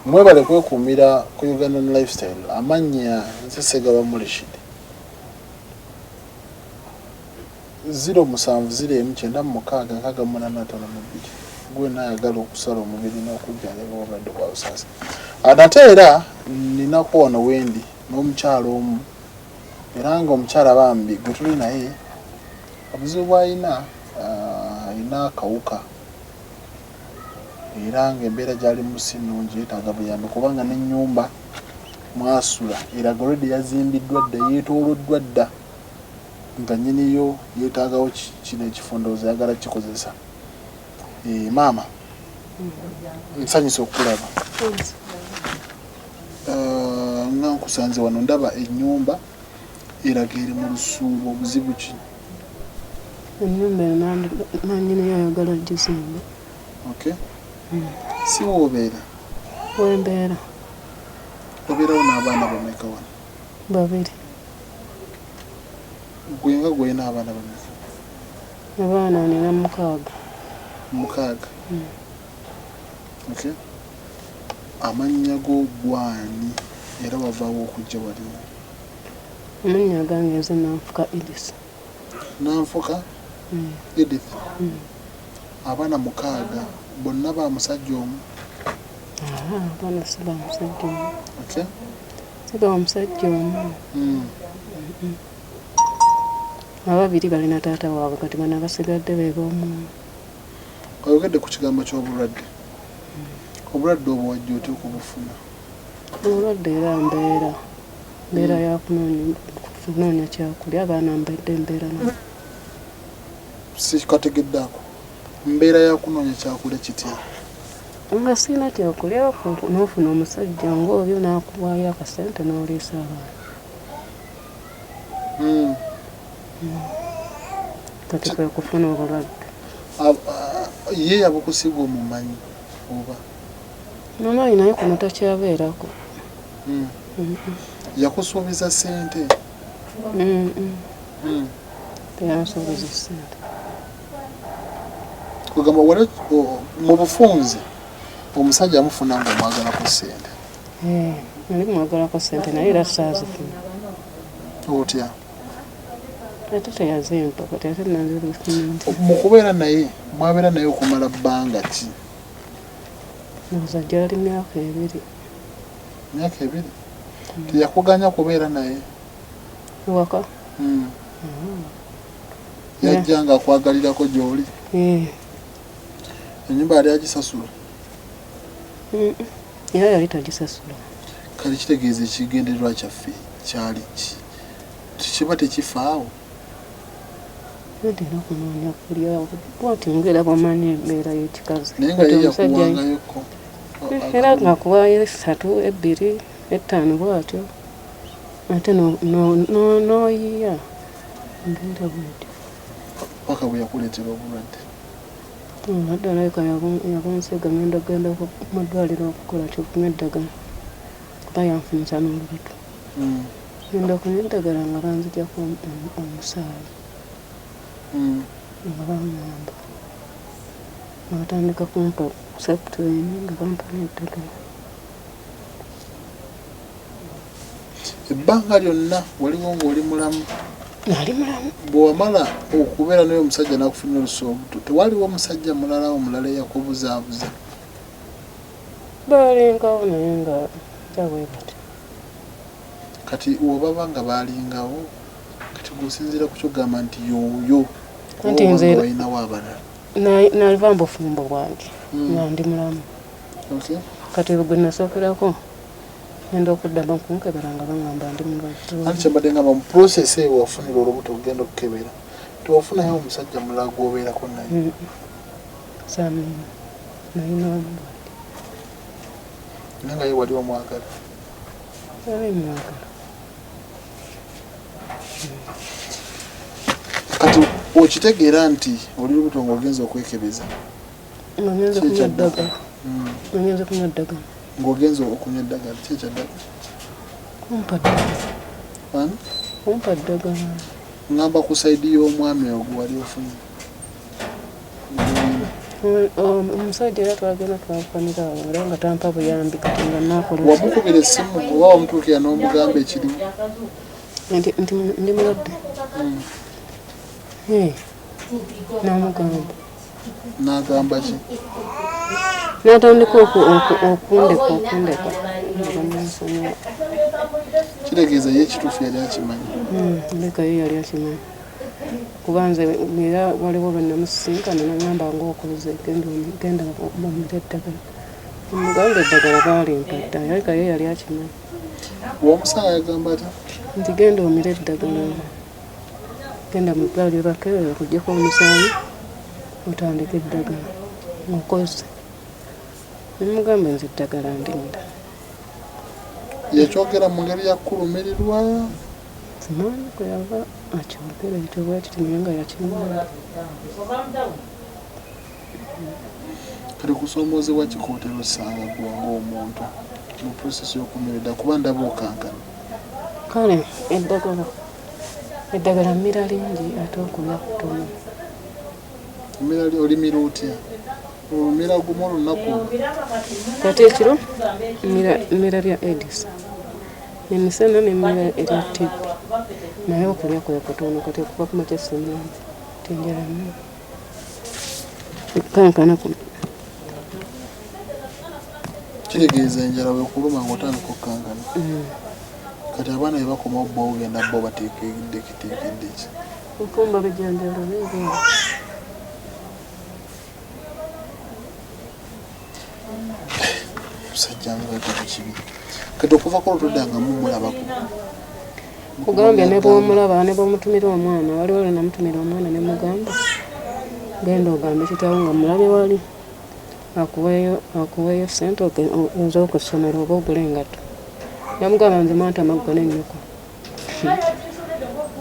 mwebale kwekuumira ku ugandan lifestyle amannya nze segaba mulishidi ziro musanvu ziro emu kyenda mu mukaaga nkaaga munaana atano mu bbiri gwena ayagala okusala omubiri n'okujjanjaba obulwadde bwa busaasi nate era ninaku wano wendi n'omukyalo omu era nga omukyala bambi gwe tuli naye Obuzibu bw'alina alina akawuka era ng'embeera gy'alimu si nnungi, yeetaaga buyambi kubanga n'ennyumba mw'asula eraga already yazimbiddwa dda, yeetooloddwa dda nga nnyini yo yeetaagawo kino ekifo ndowooza ayagala kukikozesa. Eh, maama nsanyuse okukulaba eh, nga nkusanze wano ndaba ennyumba eraga eri mu lusuubo obuzibu ki ennyumba nanyiniyo ayagala gizimba okay hmm. si woobeera wembeera obeerawo n'abaana bameka wano babiri gwe nga gwolina abaana bameka abaana nina mukaaga mukaaga hmm. okay amannya go gwani era wavaawo okujja waliwo Amannya agange nze Nanfuka Edith. Nanfuka Edith. Abaana mukaaga, bonna ba musajja omu? Haa, abaana si ba musajja omu. Otya? Si ba musajja omu. Ababiri bali na taata waabwe kati bano abasigadde be b'omu. Oyogedde ku kigambo ky'obulwadde. Obulwadde obwo wajja otya okubufuna? Obulwadde era mbeera mbeera ya kunoonya kyakulya abaana mbedde mbeera nabo. Sikategedde ako mbeera ya kunoonya kyakulya kitya? Nga sirina kyakulya n'ofuna omusajja ng'oyo n'akuwaayo akasente n'oliisa abaana. Hmm. Hmm. Kati kwe kufuna obulwadde. Ye yabukusiga omumanyi oba? Mamayi naye kuno takyabeerako. Mm. Mm. Yakusuubiza sente? Mm. Mm. Teyansuubiza sente. Kugamba wale mu bufunze omusajja amufuna nga omwagala ku sente. Eh, ndi mwagala ku sente naye era saazifuna. Otya? Ate teyazimpa kati ate nanzirifuna. Mu kubeera naye mwabeera naye okumala bbanga ki? Nze gyali myaka ebiri. Myaka ebiri? Mm. Teyakuganya kubeera naye? Ewaka? Mm. Mm. Yajja nga akwagalirako gyoli? Eh. Enyumba yali agisasula? Mm. Era yali tagisasula. Kale kitegeeza ekigendererwa kyaffe kyali ki? Tekiba tekifaawo? Mpulidde n'okunoonya kulyawo bwati ngera bwamanyi embeera y'ekikazi kati omusajja era ngakuwaayo essatu ebbiri ettaano bwatyo ate n'oyiya embeera bwetyo paka bwe yakuleetera obulwadde obulwadde alabika yabunsiga ngenda genda mu ddwaliro okukola kyokunywa eddagala kuba yanfunyisa n'olubuto ngenda okunywa eddagala nga banzigyako omusaayi nga bangamba nga batandika kumpa septrin nga bampa n'eddagala ebbanga lyonna waliwo ng'oli mulamu nali mulamu bwewamala okubeera naye omusajja nakufunira olusuubuto tewaliwo omusajja mulala omulala eyakubuzaabuza Baalingawo naye nga ja bwe batyo. Kati webaba nga baalingawo kati gwe osinziira ku kyogamba nti yooyo kubanga balinawo abalala. Naliva mu bufumbo bwange hmm. nga ndi mulamu. Kati gwe nasookerako ngenda okuddamu okunkebera nga bangamba ndi mulwadde. Ani kyembadde ngamba mu process eyo wafunira olubuto okugenda okukebera tewafunayo omusajja mulala gwobeerako naye? Hmm. Samuel. nalina omulwadde naye nga ye wali omwagala wali mwagala kati okitegeera nti oli lubuto nga ogenza okwekebeza ogenza okunywa eddagala hmm. ogenza okunywa eddagala ng'ogenza okunywa eddagala ki ekyaddagala kumpa ddagala kumpa ddagala ngamba ku saidi y'omwami ogwo wali ofunye omusajja era twagenda twakukanira awo era nga tampa buyambi kati nga nakolera wamukubira essimu oba wamutuukira n'omugamba ekirimu nti ndi mulwadde hmm. namugamba nagamba ki natandika okundeka okundeka kitegeeza ye ekituufu yali akimanyi hmm, ndekayo yali akimanyi kuba nze era waliwo lwe namusisinkana nagamba ngaokuze genda bamule eddagala omuganda eddagala baalimpata yalika ye yali akimanyi omusaala yagamba ta nti genda omire eddagala genda mu ddwaliro bakebera kujjako omusaayi otandika eddagala mukozi nemugamba nze eddagala ndinda yakyogera mu ngeri yakulumirirwa Simanyi kwe yava akyogera ekyo bwe kiti naye nga yakimala. Kati kusoomoozebwa ki kootera osanga gwe ng'omuntu mu process y'okumereda kuba ndaba okankana. Kale eddagala eddagala mmira lingi ate okulya kutono. Mmira olimira otya? olumira gumu olunaku ate ekiro mmira lya edis emisana nemmira erya tibbi naye okulya kwe kutono kati okuva ku makya simanzi tenjala nyo ekankana kuno kitegeeza enjala wekuluma ngaotandika okukankana mm. kati abaana bebakoma obba ogenda bo bateekeddeketeekeddeki nkumba bijanjalo bigo musajja ngagaba kibi kati okuva ku lutoda nga mumulabako kugambye ne bwomulaba ne bwomutumira omwana waliwo lwenamutumira omwana ne mugamba genda ogambe kitawo nga mulabe wali akuweeyo akuweeyo sente nze okusomero oba ogula engatto namugamba nze mwantama ggwe nennyoko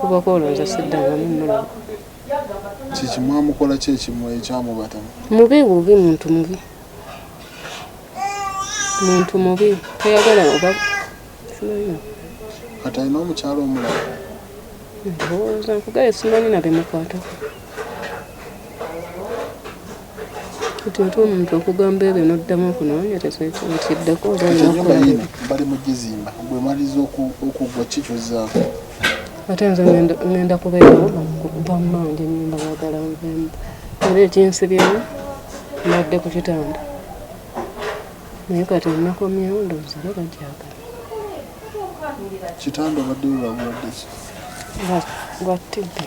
kuba kwolonza siddangamu mulaba kiki mwamukola ki ekimu ekyamubatama mubi bubi muntu mubi muntu mubi tayagala oba kati alina omukyalo omulala ndowooza nkugaye simanyi nabemukwatako kati ate omuntu okugamba ebyo noddamu okunoonyereza ekyo nkiddako obaenyumba yino bali mu gizimba gwe maliza okugwa kikyozaako ate nze ngenda kubeerawo bammange nyumba bagala nvemu era ekinsibyemu nadde ku kitanda naye kati nakomyewo ndowooza era bajagala kitanda obadde olwabuladde ki lwa tibbi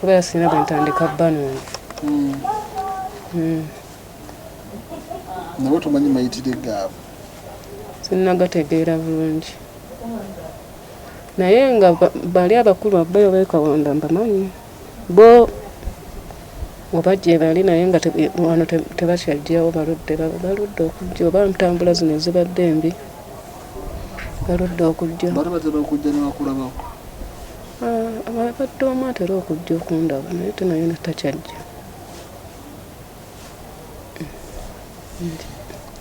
kubeera sirina bwentandika banange hmm. hmm. nawe tomanyi mayitire gaabo sinagategeera bulungi naye nga bali abakulu abbeyo bekawanda mbamanyi bo oba gyebali naye nga wano tebakyajjawo baludde baludde okujja oba ntambula zino ezibadde embi oludda okujja bali batera okujja nebakulabawo abadde omu atera okujja okundaba naye tenayona takyajja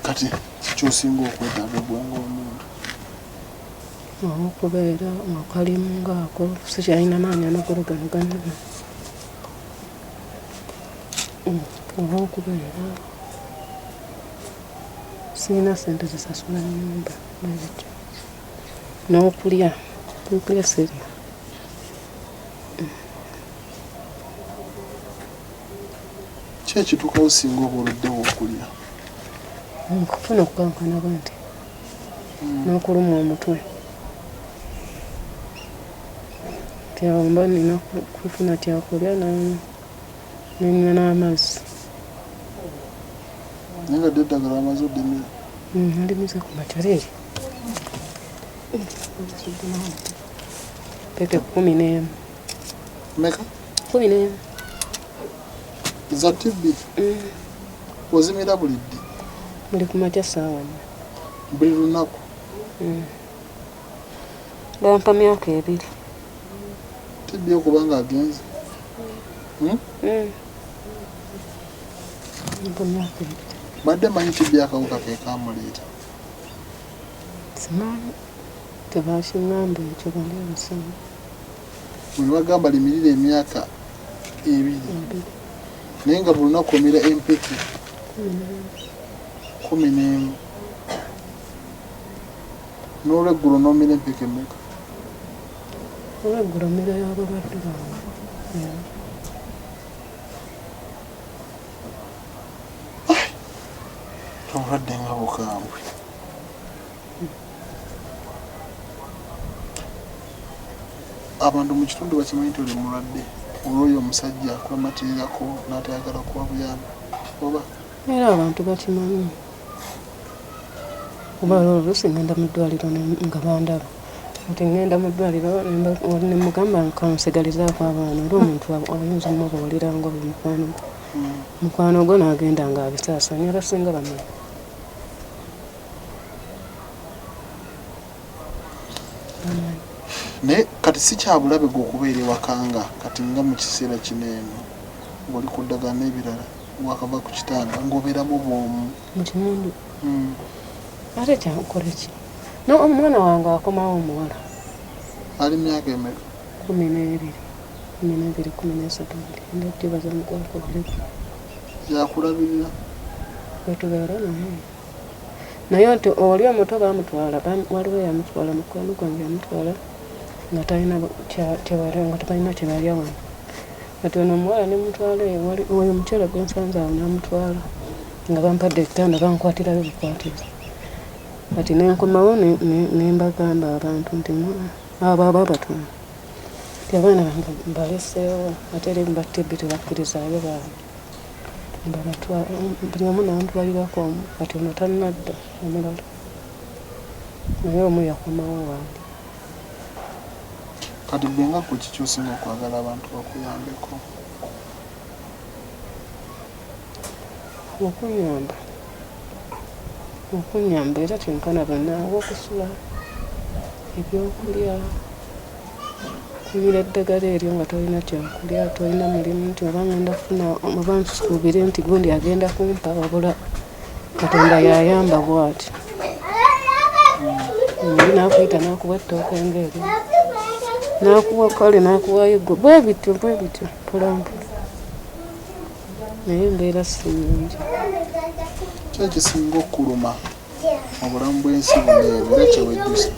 kati kikyosinga okwetaaga gwanga omuntu okubeera akalimu ngaako sikyalina maanyi amakulu gano ganama oba okubeera Sirina ssente zisasula nnyumba bwezityo n'okulya okulya sirya ki ekituukawo singa oba oluddewo okulya nkufuna okukankana bwe nti hmm. n'okulumwa omutwe tyawomba nina kufuna kyakulya namu nenywa n'amazzi naye nga dda eddagala amaze oddimira mm, ndimize ku matereri peke kumi n'emu meka kumi n'emu za tibbi mm. ozimira buli ddi buli ku makya saawa buli lunaku mm. bampa myaka ebiri tibbi okuba nga agenze hmm? Hmm. badde manyi tibbi akawuka kekamuleeta simanyi tebakingamba ekyo bali abasoma mwebagamba limirira emyaka ebiri naye nga bulunaku omira empeke kumi n'emu N'olweggulo n'omira empeke mmeka? Olweggulo mmira ya balwadde bange. Obulwadde nga bukambwe. Abantu mu kitundu bakimanyi nti oli mulwadde olw'oyo omusajja akwematirirako n'atayagala kuwa buyambi oba? era abantu bakimanyi kuba lolo lusi ngenda mu ddwaliro nga bandaba nti ngenda mu ddwaliro nemugamba kansigalizaako abaana era omuntu ayinza omubuulira nga oyo mukwano gwe hmm. mukwano gwe nagenda nga abisaasanya abasinga bamanyi naye kati si kyabulabe gwe okubeera ewakanga kati nga mu kiseera kino eno ngoli ku ddagala n'ebirala wakava ku kitanda ngoberamu bwomu mukimundu hmm. ate kyankukora ki nomwana wange akomawo omuwala ali myaka emeka kumi nebiri kumi nebiri kumi nesatu enda kyebaza mukwakulireko yakulabirira wetubeera naye naye nti oli omuto bamutwala waliwo yamutwala mukwano gwange yamutwala nga talina kyewali nga tebalina kyebali awano kati ono omuwala ne mutwala ewali oyo omukyala gwe nsanze awo namutwala nga bampadde ekitanda bankwatirayo bukwatiza kati nenkomawo nembagamba abantu nti abo aba abatuma ti abaana bange mbaleseewo ate eri mbattibbi tebakkirizayo baana buli omu nantwalirako omu kati ono tannadda omulala naye omu yakomawo wange Kati gwe nga gwe kiki osinga okwagala abantu bakuyambeko? Okunyamba. Okunyamba era kyenkana banaawo okusula, ebyokulya, kumira eddagala eryo nga tolina kyakulya, tolina mulimu nti oba ngenda kufuna oba nsuubire nti gundi agenda kumpa wabula. katonda yayamba bwati muli nakuyita nakuwa ettooka engeeri nakuwa kale nakuwayo gwe bwe bityo bwe bityo mpolampola naye embeera siyingi kyekisinga okukuluma mu bulamu bw'ensi buneebu era kyewejjusa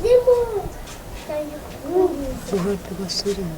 obulwadde bwa sirimu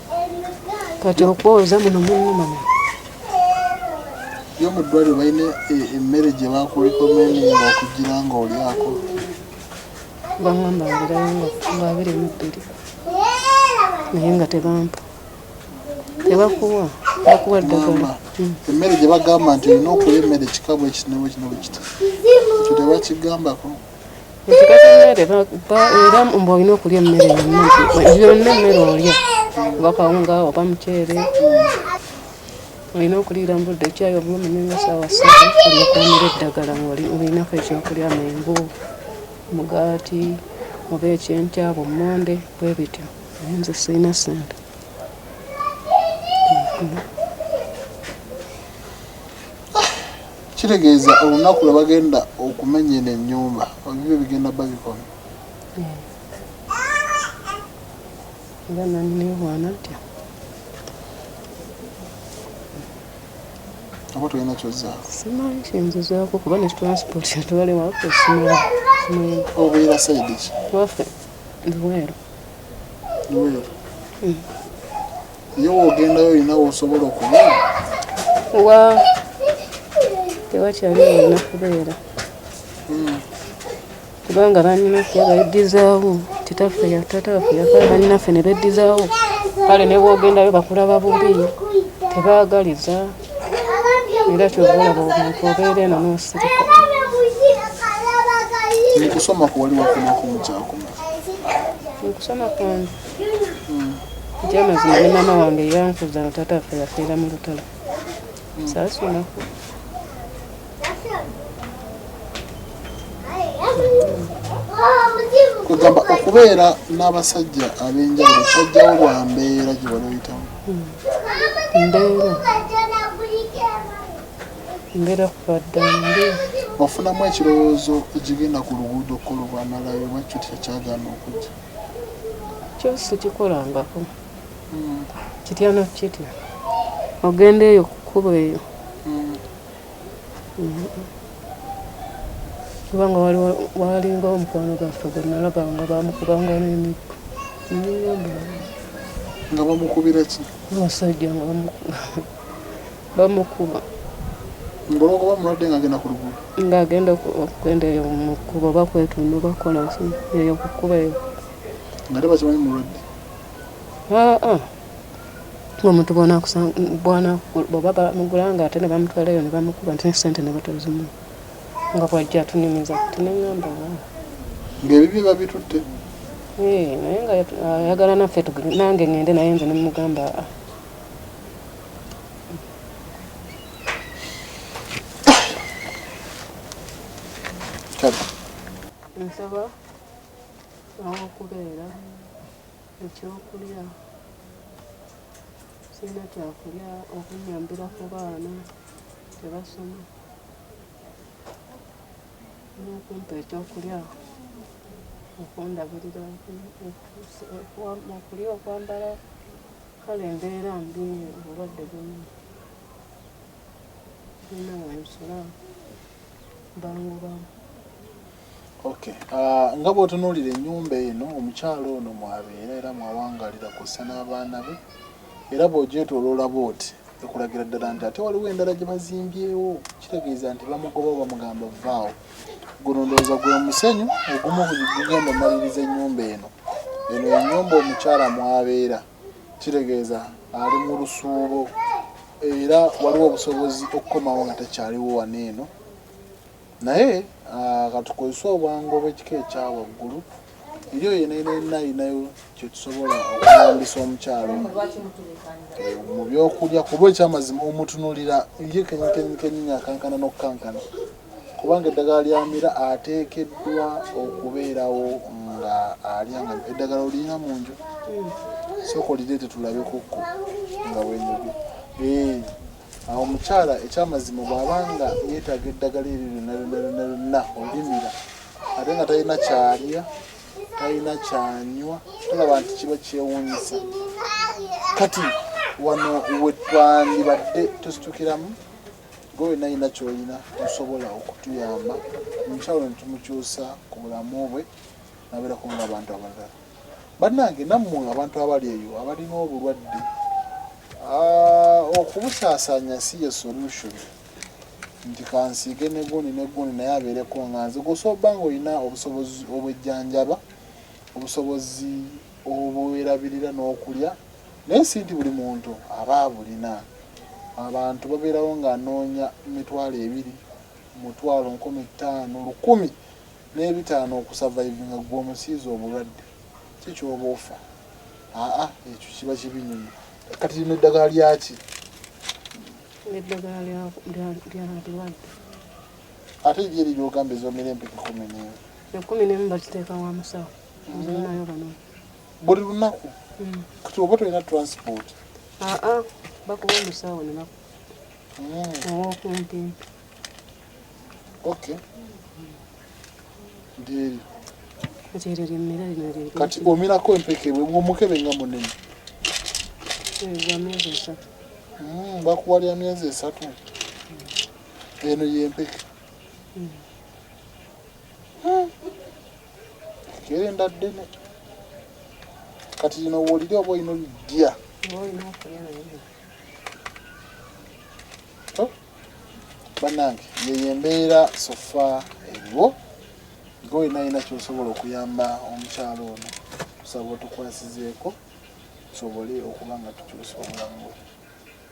kati okwoza muno munuma yo mu ddwaliro balina e, emmere gye bakulikomendinga okugira nga olyako bangamba ngirayo nga abiri mu bbiri naye nga tebampa tebakuwa bakuwa ddagala hmm. emmere gye bagamba nti olina okulya emmere kikabwa ekinebwe kinebwe kita ekyo tebakigambako era mbu olina okulya emmere yonna yonna emmere olya oba kawunga oba muceere olina okuliira mu budde ekyayi oba omanya nga saawa satu olyokwamira eddagala ngaolinako ekyokulya mengu mugaati oba ekyenkya bummonde bwe bityo naye nze sirina sente Kitegeeza olunaku lwe bagenda okumenya eno ennyumba ebibyo bigenda babikona. Era nani newaana ntya. Oba tolina kyozzaako? Simanyi kyenzizako kuba ne transport yatwale waffe simala. Obeera sayidi ki? Waffe Luweero. Luweero. Mm. Yo wogenda yo ina wosobola okuba. Wa. Tewa chali na kubera. Mm. Kubanga banyina kya bayidizawo titafe ya tata ya kwa banyina fe ne bedizawo. Kale ne wogenda yo bakula babubi. Tebagaliza. Era kyo bola bo muntu obere na musiri. Ni kusoma kwa wali wakuma kumcha akuma. Ni kusoma kwanza. nti amazima ne maama wange yankuza nga taata affe yafiira mu lutalo saasunaku kwegamba okubeera n'abasajja ab'enjawulo kyajjawo lwa mbeera gye wali oyitamu hmm. mbeera mbeera kubadda mbi ofunamu ekirowoozo ekigenda ku luguudo kkolobwamalayo bakyo tekyagana okujja kyo sikikolangako kitya nakitya ogenda eyo kukuba eyo kubanga walinga omukwano gaffe gwenalaba nga bamukubanga nemiggo nga bamukubira ki omusajja nga bamukuba bamukuba ngolokoba mulwadde nga agenda ku luguudo nga agenda okugenda eyo mu kkubo oba kwetundu oba kukola ki eyo ku kkubo eyo nga tebakimanyi mulwadde aa omuntu bwanakuba bamugula nga ate ne bamutwalayo ne bamukuba nti sente ne batazimu nga bwajja atunimiza kati ne ŋŋamba ng'ebibye babitutte naye nga ayagala naffe nange ŋŋende naye nze ne mugamba aa nsaba awokubeera ekyokulya sirina kyakulya okunyambira ku baana tebasoma nokumpa ekyokulya okundabirira okulya okwambala Kale mbeera mbi obulwadde buno bulina wensula bangubamu. Okay. Uh, nga bw'otunuulira ennyumba eno omukyala ono mwabeera era mwawangalira kw'ossa n'abaana be era bw'ogyetoloola bw'oti ekulagira ddala nti ate waliwo endala gye bazimbyewo kitegeeza nti bamugoba bamugamba vaawo Guno ndowooza gwe musenyu ogumu gugenda omaliriza ennyumba eno. Eno ye nnyumba omukyala mw'abeera, kitegeeza ali mu lusuubo era waliwo obusobozi okukomawo nga takyaliwo wano eno naye katukozese obwangu obw'ekika ekya waggulu eriyo yenenenna alinayo kyetusobola okuyambisa omukyalo eh, mu byokulya kuba ekyamazima omutunulira ye kenyikenyikenyini akankana n'okukankana Kubanga eddagala ly'amira ateekeddwa okubeerawo ng'alya nga eddagala olirina mu nju sooka olireete tulabe kukko nga bwenyoge eh, awo omukyala ekyamazima bw'aba nga yeetaaga eddagala eryo lyonna lyonna lyonna lyonna olimira ate nga talina kyalya talina kyanywa tolaba nti kiba kyewuunyisa kati wano wetwandibadde tusitukiramu Gwe wenna yina kyoyina tosobola okutuyamba omukyalo netumukyusa ku bulamu bwe naberako nga abantu abalala banange nammwe abantu abali eyo abalina obulwadde okubusasanya si ye solution nti kansiige negundi negundi naye abeereko nga nze gwosobola oba nga olina obusobozi obwejjanjaba obusobozi obwerabirira n'okulya naye si nti buli muntu aba abulina. Abantu babeerawo ng'anoonya mitwalo ebiri, mutwalo nkumi ttaano, lukumi n'ebitaano okusavayivinga ggwe omusiize obulwadde ki ky'oba ofa? Aa ekyo kiba kibi nnyo. Kati lino eddagala lyaki? Eddagala ly'abalwadde. Ate lye liri ogamba ez'omira empeke kumi n'emu? Ekkumi n'emu bakiteeka wa musawo. buli lunaku mm. kati oba tolina transport ah, ah. bakuba omusawo lunaku mm. owokumpi okay ndyeri kati omirako empeke omukebe nga munene hmm, bakuwa lya myezi esatu eno yempeke hmm. Kerenda ddene kati lino wolire oba olina olidya banange yeyo embeera sofa eriwo nga olina yina kyosobola okuyamba omukyalo ono tusaba otukwasizeeko tusobole okuba nga tukyusa obulamu bwe